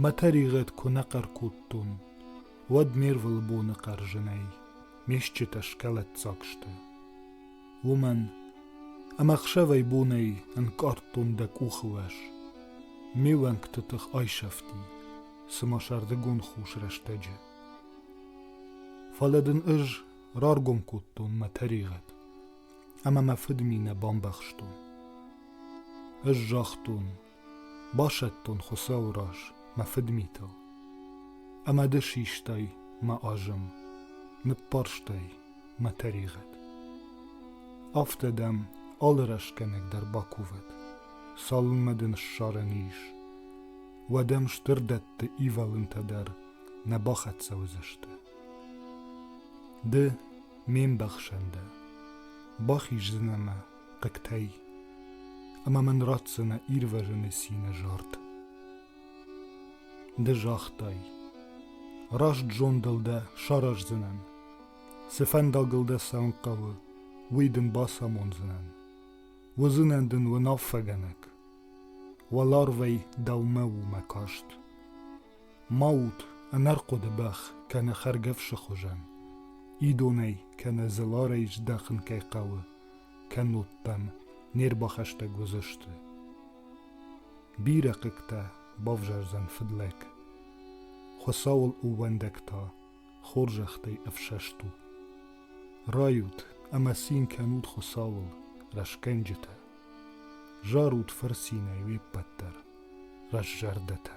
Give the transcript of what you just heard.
Мӕ тӕригъӕд куы нӕ хъӕр кодтон, уӕд не рвылбоны хъӕрзынӕй ме стджытӕ скӕлӕддзаг сты. Уымӕн ӕмӕ ӕхсӕвӕй-бонӕй ӕнкъардтон дӕ къухы уӕз. Ме уӕнгты тых айсӕфти, цыма сӕрдыгон хус рӕстӕджы. Фӕлӕ дын ӕз раргом кодтон мӕ тӕригъӕд, ӕмӕ мӕ фыдминӕ бамбӕхстон. Ӕз загътон, Басӕттон Хуыцауы раз мӕ фыдмитыл, ӕмӕ ды систай мӕ азым, ныббарстай мӕ тӕригъӕд. Афтӕ дӕм алы рӕстгӕнӕг дӕр бакувӕд, цалынмӕ ды ныссарӕн ис, уӕдӕм стыр дӕтты ивӕлынтӕ дӕр нӕ бахӕццӕ уыдзысты. Ды ме мбӕхсӕн дӕ, бахиздзынӕ мӕ хъыгтӕй, ӕмӕ мын ратдзынӕ ирвӕзыны цины зард. Ды загътай, раст зондыл дӕ сараздзынӕн, цы фӕндагыл дӕ сӕм хъӕуы, уый дын бацамондзынӕн. Уыдзынӕн дын уынаффӕгӕнӕг. Уӕларвӕй дӕумӕ у мӕ каст. Ма ут ӕнӕрхъуыды бӕх кӕнӕ хӕргӕфсы хуызӕн, идонӕй кӕнӕ зыларӕй здахын кӕй хъӕуы, кӕннод дӕм не рбахӕстӕг уыдзысты. Бирӕ хъыгтӕ бавзардзӕн фыдлӕг. Хуыцауыл увӕндӕг та хорзӕхтӕй ӕфсӕст у. Райут ӕмӕ цин кӕнут Хуыцауыл, рӕсгӕнджытӕ. Зарут фырцинӕй уе ппӕт дӕр, раззӕрдӕтӕ.